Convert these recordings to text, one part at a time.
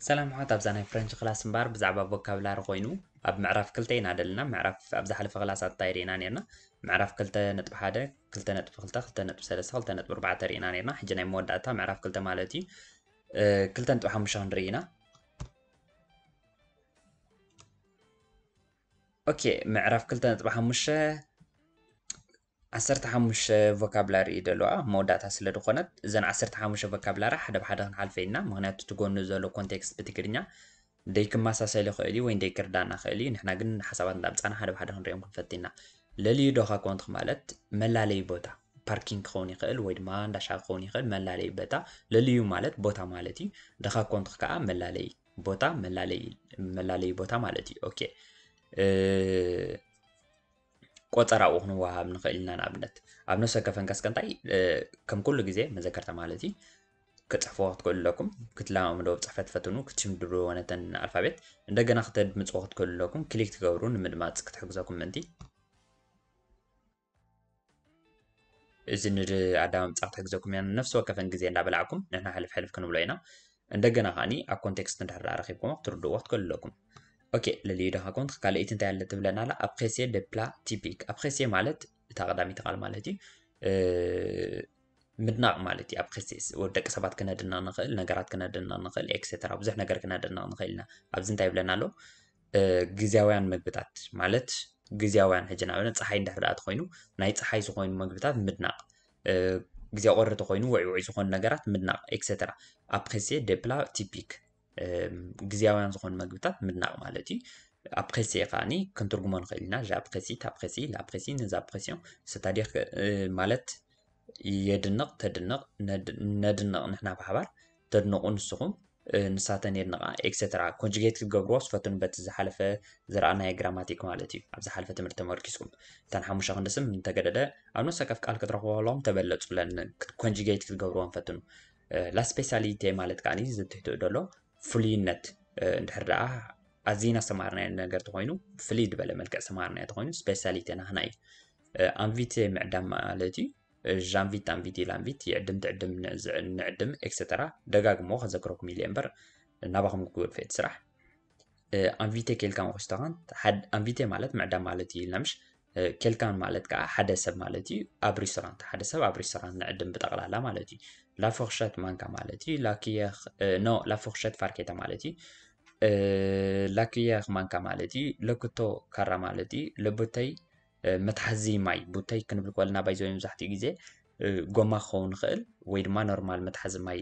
ሰላም ሓት ኣብዛ ናይ ፍረንች ክላስ እምበኣር ብዛዕባ ቮካብላሪ ኮይኑ ኣብ ምዕራፍ ክልተ ኢና ደለና ምዕራፍ ኣብ ዝሓለፈ ክላስ ኣታይ ርኢና ነርና ምዕራፍ ክልተ ነጥቢ ሓደ ክልተ ነጥቢ ክልተ ክልተ ነጥቢ ሰለስተ ክልተ ነጥቢ ኣርባዕተ ርኢና ነርና ሕጂ ናይ መወዳእታ ምዕራፍ ክልተ ማለት እዩ ክልተ ነጥቢ ሓሙሽተ ክንርኢ ኢና ኦኬ ምዕራፍ ክልተ ነጥቢ ሓሙሽተ ዓሰርተ ሓሙሽተ ቮካብላሪ እዩ ደለዋ ኣብ መወዳእታ ስለ ዝኾነት እዘን ዓሰርተ ሓሙሽተ ቮካብላሪ ሓደ ብሓደ ክንሓልፈ ኢና ምክንያቱ እቲ ጎኑ ዘሎ ኮንቴክስት ብትግርኛ ደይ ክመሳሰል ይኽእል እዩ ወይ ደይ ክርዳእና ይኽእል እዩ ንሕና ግን ሓሳባት እንዳምፃና ሓደ ብሓደ ክንሪኦም ክንፈት ኢና ለልዩ ዶ ካኮንትክ ማለት መላለዩ ቦታ ፓርኪንግ ክኸውን ይኽእል ወይ ድማ እንዳሻ ክኸውን ይኽእል መላለዩ ቦታ ለልዩ ማለት ቦታ ማለት እዩ ደኻኮንትክ ከዓ መላለዩ ቦታ መላለይ ቦታ ማለት እዩ ኦኬ ቆፀራ ኣብኡ ክንወሃብ ንኽእል ኢና ንኣብነት ኣብ ነፍሰ ከፈንከስ ከንታይ ከም ኩሉ ግዜ መዘከርታ ማለት እዩ ክፅሕፍዎ ክትክእሉ ኣለኩም ክትለማመዶ ፅሕፈት ፈትኑ ክትሽምድሩ ወነተን ኣልፋቤት እንደገና ክተድምፅዎ ክትክእሉ ኣለኩም ክሊክ ትገብሩ ንምድማፅ ክትሕግዘኩም ምእንቲ እዚ ንኣዳማዊ ምጻሕ ክሕግዘኩም ኢና ነፍሲ ወከፈን ግዜ እንዳበላዕኩም ንሕና ሕልፍ ሕልፍ ክንብሎ ኢና እንደገና ከዓኒ ኣብ ኮንቴክስት እንድሕር ኣረኪብኩሞ ክትርድእዎ ክትክእሉ ኣለኩም ኦኬ ልልዩ ዳኻ ኮንት ካልኣይቲ እንታይ ኣለ ትብለና ኣላ ኣብ ኸሴ ደፕላ ቲፒክ ኣብ ኸሴ ማለት እታ ቀዳሚቲ ቃል ማለት እዩ ምድናቕ ማለት እዩ ኣብ ኸሴስ ደቂ ሰባት ክነድና ንኽእል ነገራት ክነድና ንኽእል ኤክሴተራ ብዙሕ ነገር ክነድና ንኽእል ኢና ኣብዚ እንታይ ይብለና ኣሎ ግዝያውያን መግብታት ማለት ግዝያውያን ሕጂ ንኣብነት ፀሓይ እንድሕር ደኣ ተኾይኑ ናይ ፀሓይ ዝኾይኑ መግብታት ምድናቕ ግዜ ቁሪ ተኾይኑ ውዕይ ውዕይ ዝኾኑ ነገራት ምድናቕ ኤክሰትራ ኣብ ፕሬሴ ደፕላ ቲፒክ ግዝያውያን ዝኾኑ መግብታት ምድናቕ ማለት እዩ ኣብ ፕሬሴ ከዓኒ ክንትርጉሞ ንኽእል ኢና ዣ ፕሬሲ ታ ፕሬሲ ላ ፕሬሲ ነዛ ፕሬሲዮ ስታዲክ ማለት የድንቕ ተድንቕ ነድንቕ ንሕና ብሓባር ተድንቑ ንስኹም ንሳተን የድንቓ ኤክሰትራ ኮንጁጌት ክትገብርዎስ ፈትኑ በቲ ዝሓለፈ ዝረኣናዮ ግራማቲክ ማለት እዩ ኣብ ዝሓለፈ ትምህርቲ ተመርኪስኩም እተን ሓሙሽተ ክንዲ ስም እንተገደደ ኣብ ነፍሰ ወከፍ ቃል ክትረኽበሎም ተበለጹለን ኮንጁጌት ክትገብርዎን ፈትኑ ላስፔሳሊቴ ማለት ከዓኒ ዝትሕትኡ ደሎ ፍሉይነት እንድሕር ደኣ ኣዝና ዝተማሃርናዮ ነገር ተኾይኑ ፍልይ ዝበለ መልክዕ ዝተማሃርናዮ ተኾይኑ ስፔሳሊቴ ናህና እዩ ኣንቪቴ ምዕዳም ማለት እዩ ዣንቪት ኣንቪት ኢላንቪት ይዕድም ትዕድም ንዕድም ኤክሰተራ ደጋግሞ ከዘክረኩም ኢለ እምበር ናባኹም ክግብር ፍት ስራሕ ኣንቪቴ ኬልካ ንክስተኻን ኣንቪቴ ማለት ምዕዳም ማለት እዩ ኢልና ምሽ ኬልካን ማለት ከዓ ሓደ ሰብ ማለት እዩ ኣብ ሬስቶራንት ሓደ ሰብ ኣብ ሬስቶራንት ንዕድም ብጠቕላላ ማለት እዩ ላፎክሸት ማንካ ማለት እዩ ላክየኽ ኖ ላፎክሸት ፋርኬታ ማለት እዩ ላክየኽ ማንካ ማለት እዩ ለክቶ ካራ ማለት እዩ ለቦተይ መትሓዚ ማይ ቡተይ ክንብል ከለና ባይዘ መብዛሕትኡ ግዜ ጎማ ክኸውን ይኽእል ወይ ድማ ኖርማል መትሓዚ ማይ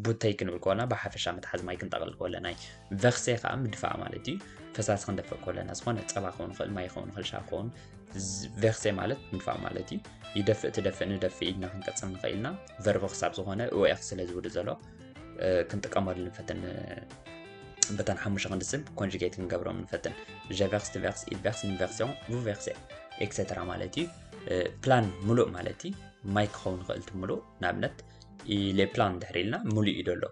ቡተይ ክንብል ከለና ብሓፈሻ መትሓዚ ማይ ክንጠቕል ከለና እዩ ቨክሴ ከዓ ምድፋእ ማለት እዩ ፈሳሲ ክንደፍእ ከለና ዝኾነ ፀባ ክኸውን ይኽእል ማይ ክኸውን ይኽእል ሻ ክኸውን ቨክሴ ማለት ምድፋእ ማለት እዩ ይደፍእ ትደፍእ ንደፍእ ኢልና ክንቀፅል ንኽእል ኢና ቨርቦ ክሳብ ዝኾነ እወ ስለ ዝውድ ዘሎ ክንጥቀመሉ ንፈትን በተን ሓሙሽተ ክንዲ ስብ ኮንጅጌት ክንገብሮም ንፈትን ጀቨርስ ትቨርስ ኢቨርስ ኢንቨርሲዮን ቡቨርሴ ኤክሰትራ ማለት እዩ ፕላን ሙሉእ ማለት እዩ ማይ ክኸውን ይኽእል እቲ ሙሉእ ንኣብነት ሌፕላን ድሕሪ ኢልና ሙሉእ እዩ ደሎ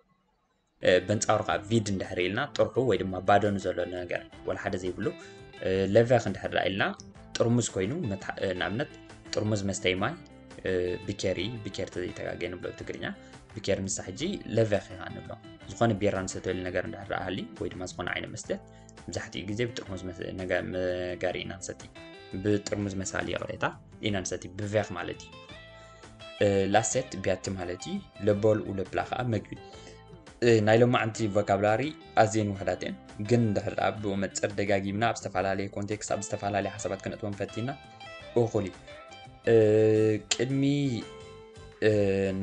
በንፃሩ ከዓ ቪድ እንድሕሪ ኢልና ጥርሑ ወይ ድማ ባዶን ዘሎ ነገር ወላ ሓደ ዘይብሉ ለቨክ እንድሕር ኢልና ጥርሙዝ ኮይኑ ንኣብነት ጥርሙዝ መስተይ ማይ ብኬሪ ብኬር ተዘይተጋገ ንብሎ ትግርኛ ብኬር ንሳ ሕጂ ለቨኽ ኢኻ ንብሎ ዝኾነ ቢራ ንሰተሉ ነገር እንዳረኣሃሊ ወይ ድማ ዝኾነ ዓይነት መስተ መብዛሕትኡ ግዜ ብጥርሙዝ መጋሪ ኢና ንሰቲ ብጥርሙዝ መሳሊ ይቕሬታ ኢና ንሰቲ ብቬኽ ማለት እዩ ላሴት ቢያቲ ማለት እዩ ለቦል ውለብላ ከዓ መግቢ ናይ ሎማዓንቲ ቮካብላሪ ኣዝየን ውሕዳት እየን ግን እንድሕር ብኡ መፅር ደጋጊምና ኣብ ዝተፈላለየ ኮንቴክስት ኣብ ዝተፈላለየ ሓሳባት ክነእትወን ፈቲና እኹል እዩ ቅድሚ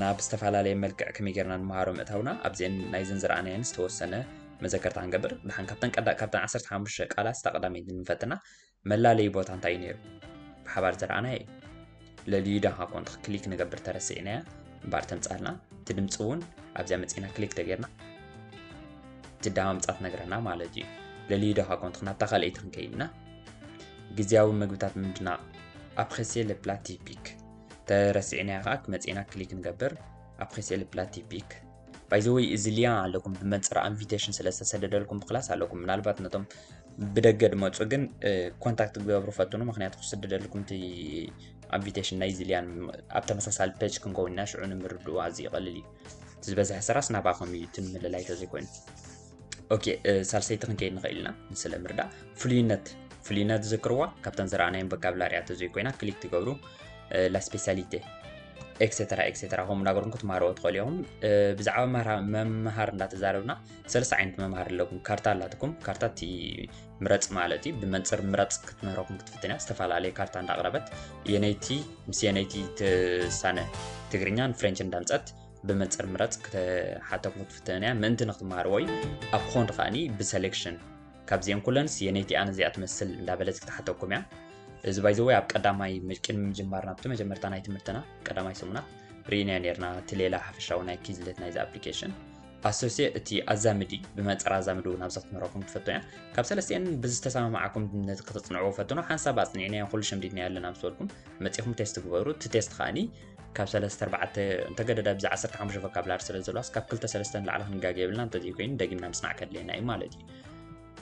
ናብ ዝተፈላለየ መልክዕ ከመይ ጌርና ንምሃሮ ምእታውና ኣብዚአን ናይዘን ዝረኣናየን ዝተወሰነ መዘከርታ ክንገብር ድሓን ካብተን ቀዳ ካብተን 15 ቃላት ስታ ቀዳመይቲ ንፈትና መላለዪ ቦታ እንታይ እዩ ነይሩ ብሓባር ዝረኣናየ እዩ ለልዩ ዳኻ ኮንት ክሊክ ንገብር ተረሲዕናያ እምበኣር ተምፃልና እቲ ድምፂ እውን ኣብዚያ መፂና ክሊክ ተጌርና እቲ ዳምፃት ነግረና ማለት እዩ ለልዩ ዳኻ ኮንት ናብታ ካልኣይቲ ክንከይድና ግዝያዊ መግብታት ምድናቕ ኣፕሬሲየ ለ ፕላ ቲፒክ ተረሲዕናዮ ከዓ ክመፅና ክሊክ ንገብር ኣፕሬሲየ ለ ፕላ ቲፒክ ባይዘወይ እዚ ሊያ ኣለኩም ብመንፅር ኣንቪቴሽን ስለ ዝተሰደደልኩም ብክላስ ኣለኩም ምናልባት ነቶም ብደገ ድመፁ ግን ኮንታክት ክገብሩ ፈትኑ ምክንያቱ ክስደደልኩም እቲ ኣንቪቴሽን ናይዚ ሊያን ኣብ ተመሳሳሊ ፔጅ ክንከውን ኢና ሽዑ ንምርድኡ ኣዝዩ ይቐልል እዩ ዝበዝሐ ስራስ ናባኹም እዩ እቲ ምልላይ ተዘይኮይኑ ኦኬ ሳልሰይቲ ክንከይድ ንኽእል ኢና ንስለ ምርዳእ ፍሉይነት ፍሉይነት ዝዝክርዋ ካብተን ዝረኣናዮም በካብላርያት ዘይኮይና ክሊክ ትገብሩ ላስፔሳሊቴ ኤክሴተራ ኤክሴተራ ከምኡ እናገርኩም ክትመሃርዎ ትኽእሉ ኢኹም ብዛዕባ መምሃር እንዳተዛረብና ሰለስተ ዓይነት መምሃር ኣለኩም ካርታ ኣላትኩም ካርታ እቲ ምረፅ ማለት እዩ ብመንፅር ምረፅ ክትምህረኩም ክትፍትን እያ ዝተፈላለየ ካርታ እንዳቕረበት የነይቲ ምስ የነይቲ ትሳነ ትግርኛን ፍሬንች እንዳምፀት ብመንፅር ምረፅ ክትሓተኩም ክትፍትነን እያ ምእንቲ ንክትመሃርዎ እዩ ኣብ ክኾን ከዓኒ ብሰሌክሽን ካብዚአን ኩለንስ የነይቲ ኣነ እዚኣ ትመስል እንዳበለት ክትሓተኩም እያ እዚ ባይዘወይ ኣብ ቀዳማይ ቅድሚ ምጅማር ናብቲ መጀመርታ ናይ ትምህርትና ቀዳማይ ሰሙናት ርኢናዮ ነርና እቲ ሌላ ሓፈሻዊ ናይ ኪዝለት ናይዚ ኣፕሊኬሽን ኣሶሴ እቲ ኣዛምዲ ብመንፅር ኣዛምዲ እውን ኣብዚ ክትምህረኩም ትፈቶ እያ ካብ ሰለስተን ብዝተሰማማዓኩም ነቲ ከተፅንዕዎ ፈትኖ ሓንሳብ ኣፅኒዕናዮ ኩሉ ሸምዲድናዮ ኣለና ምስ በልኩም መፂኹም ቴስት ግበሩ እቲ ቴስት ከዓኒ ካብ ሰለስተ ኣርባዕተ እንተገደዳ ብዛ ዓሰርተ ሓሙሽተ ቮካብላሪ ስለ ዘለዋስ ካብ ክልተ ሰለስተ ንላዕሊ ክንጋገ የብልና እንተዘይ ኮይኑ ደጊምና ምስናዕ ከድልየና እዩ ማለት እዩ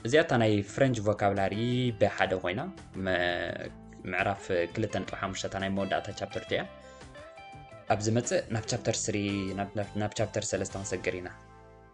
እዚኣ እታ ናይ ፍረንች ቮካብላሪ ብሓደ ኮይና ምዕራፍ ክልተ ነጥቢ ሓሙሽተ እታ ናይ መወዳእታ ቻፕተር እቲያ ኣብ ዝመፅእ ናብ ቻፕተር ስሪ ናብ ቻፕተር ሰለስተ ክንሰግር ኢና